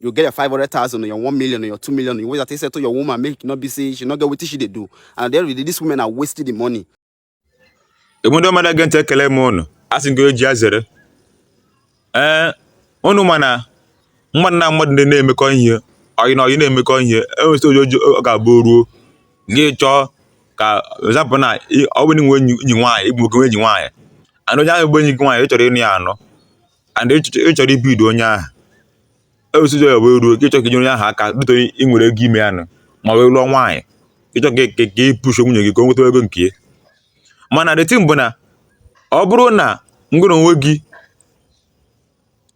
you get your 500,000 or your 1 million or your 2 million. You wait that they settle your woman, make no be say she no get what she dey do. And then really, these women are wasting the money. The window mother gent ekele m unu. A sị ngọ eji azere. Eh, unu ma na mmadụ na mmadụ ndị na-emekọ ihe ọyị na ọyị na-emekọ ihe enwesị oji oji ọ ga-abụ ruo gị chọọ ka example ọ bụrụ na i nwe enyi nwaanyị ị bụ nwoke nwe enyi nwaanyị and onye ahụ bụ enyi gị nwaanyị ị chọrọ ịnụ ya anụ and ị chọrọ ibido onye ahụ ewesizi ya wee ruo ka ịchọ ka onye ahụ aka dịta ị nwere ego ime ya nụ ma wee lụọ nwaanyị ịchọ ka ka ị push nwunye gị ka o nweta ego nke ya mana the thing bụ na ọ bụrụ na ngụrụ onwe gị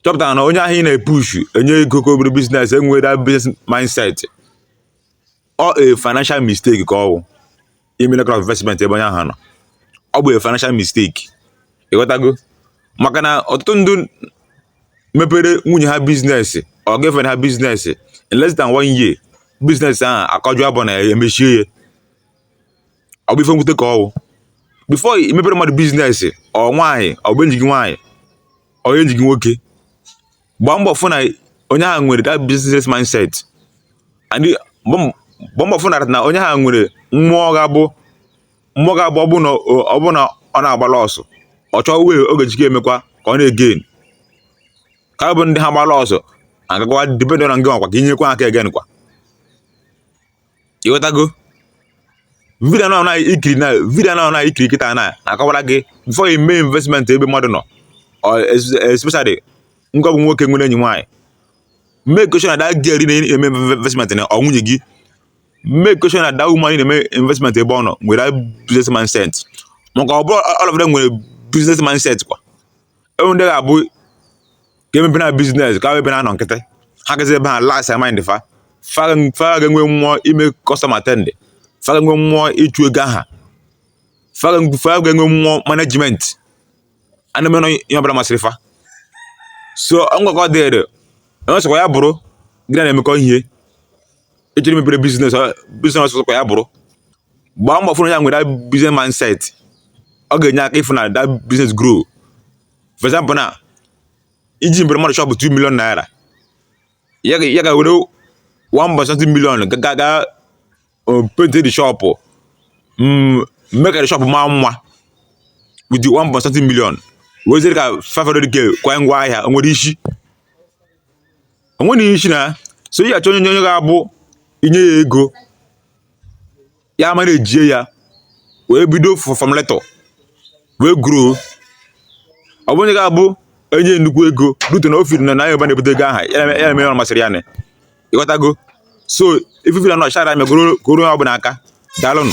chọpụtara na onye ahụ ị na-epush enye ego ka o mebe business enwerọ business mindset ọ a financial mistake ka ọ bụ ime that kind of investment ebe onye ahụ nọ ọ bụ a financial mistake ịghọtago maka na ọtụtụ ndị mepere nwunye ha business or girlfriend ha business in less than one year business ahụ akọjụ abụ na ya emechie ya ọ bụ ife mwute ka ọ bụ before i mepere mmadụ business ọ nwaanyị ọ bụ enyi gị nwaanyị ọ enyi gị nwoke gbaa mbọ fụ na onye ahụ nwere that business mindset and gbaa mbọ fụ na na onye ahụ nwere mmụọ ga-abụ mmụọ ga-abụ ọ bụ na ọ bụ na ọ na-agbala ọsọ ọ chọọ way ọ ga-eji ke emekwa ka ọ na-egain ka bụ ndị ha gbala ọsọ agakwa depend na ngị nwakwa ka inyekwa aka again kwa ịghọtago video a ị na-ekiri na video a ị na-ekiri kịta na-akọwara gị before you mee investment ebe mmadụ nọ especially nke ọ bụ nwoke nwere enyi nwaanyị make sure na that girl ị na-eme investment na ọ nwunye gị make sure na that woman ị na-eme investment ebe ọ nọ nwere business mindset maka ọ bụrọ all of them nwere business mindset kwa enwe ndị ga-abụ ka e mepere ha business ka ebe na-anọ nkịtị ha gazi ebe ha relax mind fa fa ga-enwe mmụọ ime customer attend fa ga-enwe mmụọ ịchụ ego aha fa ga-enwe mmụọ management a na-emenụ ihe ọbụla masịrị fa so ngwakọ dịrị onye ọ sọkwa ya bụrụ gị na ya na-emekọ ihe ị chọrọ imebere business business ọ sọkwa ya bụrụ gbaa mbọ fụrụ ya nwere that business mindset ọ ga-enye aka ịfụ na that business grow for example na iji mepere mmadụ shop 2 million naira ya ga- ya ga were 1.something million ga- ga ga uh, paint the shop mm, make the shop maa mma with the 1.something million wezere ka 500k kwa ngwa ahịa o nwere isi onwere ihe isi na ya so ị ga-achọ onye onye ga-abụ inye ya ego ya mara ejie ya wee bido from little wee grow ọ bụ onye ga-abụ enye nnukwu ego rute na ọ feel na na yoruba na-ebute ego aha ya na- ya na-eme ihe ọ masịrị ya na ịghọtago so ife na nọchara megoro goro onye ọbụla aka daalụnụ